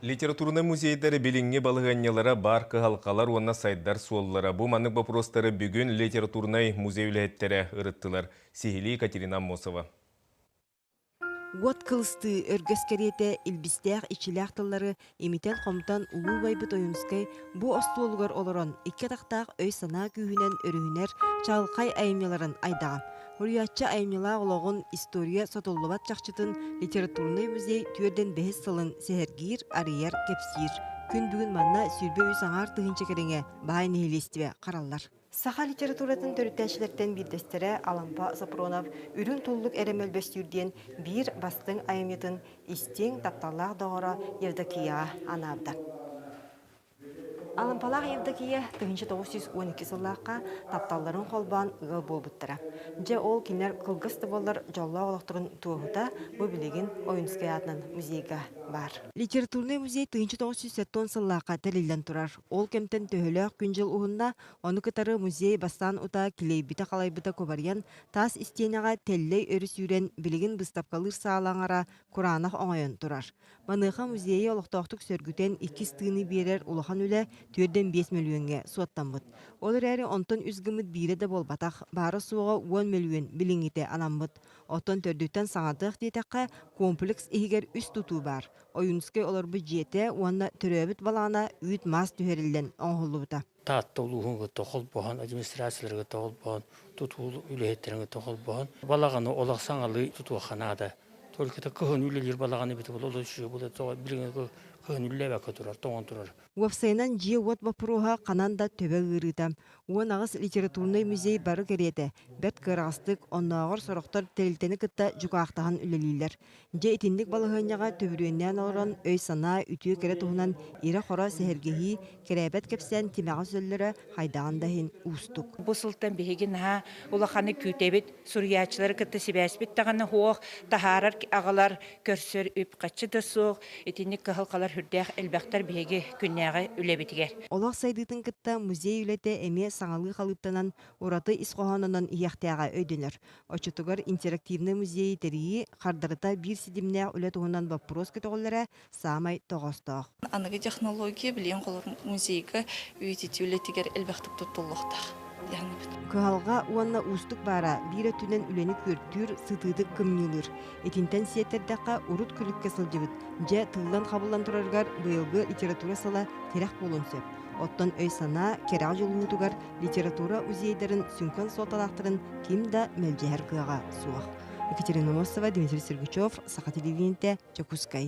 Литературнай музейдар билиҥҥи балаһыанньалара баар кыһалҕалар уонна сайдар суоллара. Бу маннык боппуруостары бүгүн литературнай музей үлэһиттэрэ ырыттылар. Сиһилии Катерина Аммосова. Уот кылыстыы өргөс кэриэтэ илбистээх-ичилээх тыллары имитэн-хомтон улуу убайбыт Ойуунускай бу остуолугар олорон икки атахтаах өй-санаа күүһүнэн өрүһүнэр чаҕылхай айымньыларын айдаҕа. Уруйааччы айымньылаах олоҕун история сотуллубат чахчытын литературнай музей түөрдэн сылын сэһэргиир, арыйар, кэпсиир. Күн бүгүн манна сүүрбэ үс аҥаар тыһыынча кэриҥэ баай нэһилиэстибэ хараллар. Саха литературатын төрүттээччилэртэн биирдэстэрэ Алампа Сопронов Үрүҥ туллук эрэ мөлбөстүүр диэн биир бастыҥ айымньытын истиҥ тапталлаах доҕоро Евдокия анаабыта. Алампалаах Евдокия тыһыынча тоҕус сүүс уон икки сыллаахха тапталларын холбоон ыал буолбуттара. Дьэ ол кинилэр кылгас да буоллар дьоллоох олохторун туоһута бу билигин Ойуунускай аатынан музейга баар. Литературнай музей тыһыынча тоҕус сүүс сэттэ уон сыллаахха тэриллэн турар. Ол кэмтэн төһөлөөх күн-дьыл уһунна, ону кытары музей бастаан утаа килиэйбитэ-халайбыта кубарыйан, таас истиэнэҕэ тэллэй өрү сүүрэн, билигин быстапкалыыр саала аҥара кураанах оҥойон турар. Маныаха музейы олохтоохтук сөргүтэн иккис тыыны биэрэр улахан үлэ түөрдэн биэс мөлүөҥҥэ суоттаммыт. Ол эрээри онтон үс гыммыт биирэ да буолбатах, баара-суоҕа уон мөлүөн билиҥҥитэ анаммыт. Оттон төрдүттэн саҥардыах диэтэххэ, комплекс иһигэр үс тутуу баар. Ойунскай олорбут дьиэтэ уонна төрөөбүт балаана үүт-маас түһэриллэн оҥоһуллубута. Таатта улууһуҥҥыта холбоһон, администрацияларга холбоһон, тутуу үлэһиттэргэ холбоһон, балаҕаны олох саҥалыы тутуохха наада. Только кыһын үлэлиир балаҕан эбитэ була олус үчүгэй була билиҥҥи кыһын үллээбэккэ турар, тоҥон турар. Уопсайынан дьиэ-уот боппуруоһа ханан да төбө ыарыыта. Уон аҕыс литературнай музей бары кэриэтэ, бэрт кыараҕастык, оннооҕор сорохтор тэрилтэни кытта дьукаахтаһан үлэлииллэр. Дьэ итинник балаһыанньаҕа төһүрүөннээн олорон өй-санаа үтүө кэрэ туһунан ирэ-хоро сэһэргэһии, кэрээбэт кэпсээн тимэҕэ сөллөрө хайдаҕын да иһин уустук. Бу сылтан биһиги наһаа улаханнык күүтэбит, суруйааччылары кытта сибээспит даҕаны һуох, таһаарар аҕалар, көрсөр үп-харчы да суох, итинник кыһалҕалар сүрдээх элбэхтэр биһиги күннээҕи үлэбитигэр. Олох сайдыытын кытта музей үлэтэ эмиэ саҥалыы халыыптанан, ураты ис хоһоонунан иһиэхтээҕэ өйдөнөр. Оччотугар интерактивнай музейы тэрийии хардарыта биир ситимнээх үлэ туһунан боппуруос көтөҕүллэрэ саамай тоҕоостоох. Аныгы технология билиэн холор музейга үйэтитии үлэтигэр элбэхтик туттуллуохтаах диэхинэбит. Кыһалҕа уонна уустук баара биир өттүнэн үлэни күөртүүр, сытыытык кымньыылыыр. Итинтэн сиэттэрдэххэ, урут күлүккэ сылдьыбыт, дьэ тыллан-хабыллан тураргар быйылгы литература сыла тирэх буолуон сөп. Оттон өй-санаа, кэрэҕэ дьулуһуутугар литература музейдарын сүҥкэн суолталаахтарын ким да мэлдьэһэр кыаҕа суох. Екатерина Мосова, Дмитрий Сергучев, Саха телевидениетэ, Дьокуускай.